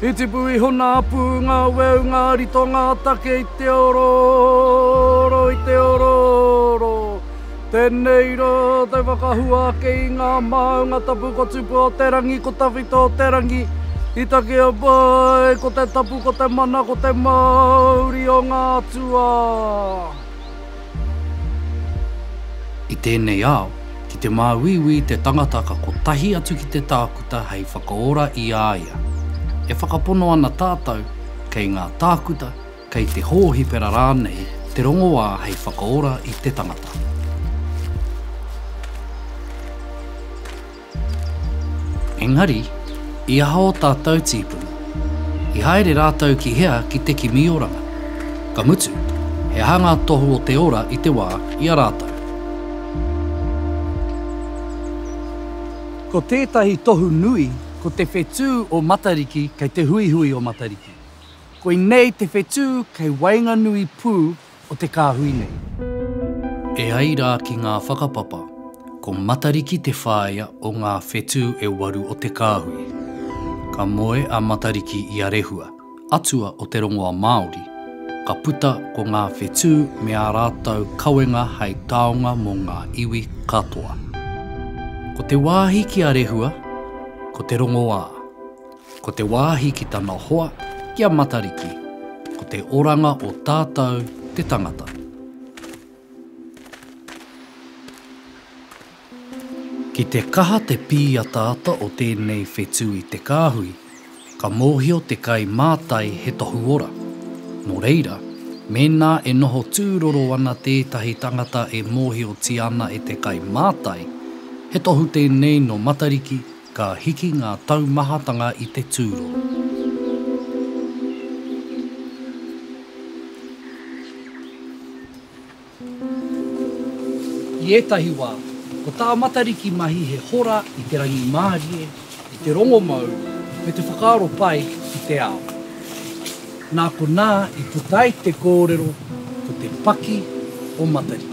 I tipu iho nā pū ngā weu ngā rito ngā take i te orooro i te orooro Tēnei rā te whakahua ake i ngā māunga tapu ko Tupu o te rangi ko Tawhito o te rangi I takea pai ko te tapu ko te mana ko te māuri o ngā atua. I tēnei ao, ki te māuiui te tangata ka kotahi atu ki te tākuta hei whakaora i a ia. E whakapono ana tātou, kei ngā tākuta, kei te hōhipera rānei te rongoā hei whakaora i te tangata. Engari, i aha ō tātou tīpuna? I haere rātou ki hea ki te kimi oranga? Ka mutu, he aha ngā tohu o te ora i te wā i a rātou? Ko tētahi tohu nui, ko te whetū o Matariki kei te huihui o Matariki. Koinei te whetū kei waenganui pū o te kāhui nei. E ai rā ki ngā whakapapa, ko Matariki te whāea o ngā whetū e waru o te kāhui. Ka moe a Matariki i a Rehua, atua o te rongoa Māori, ka puta ko ngā whetū me ā rātou kawenga hei taonga mō ngā iwi katoa. Ko te wāhi ki a Rehua, ko te rongoā. Ko te wāhi ki tana hoa, ki a Matariki, ko te oranga o tātou te tangata. Ki te kaha te pīataata o tēnei whetū i te kāhui, ka mōhio te kai mātai he tohu ora. Nō reira, mēnā e noho tūroro ana tētahi tangata e mōhiotia ana e te kai mātai, he tohu tēnei nō Matariki, Ka hiki ngā taumahatanga i te tūro. I ētahi wā, ko tā Matariki mahi he hora i te rangimārie, i te rongomau, me te whakaaro pai ki te ao. Nā konā i puta ai te kōrero ko te paki o Matariki.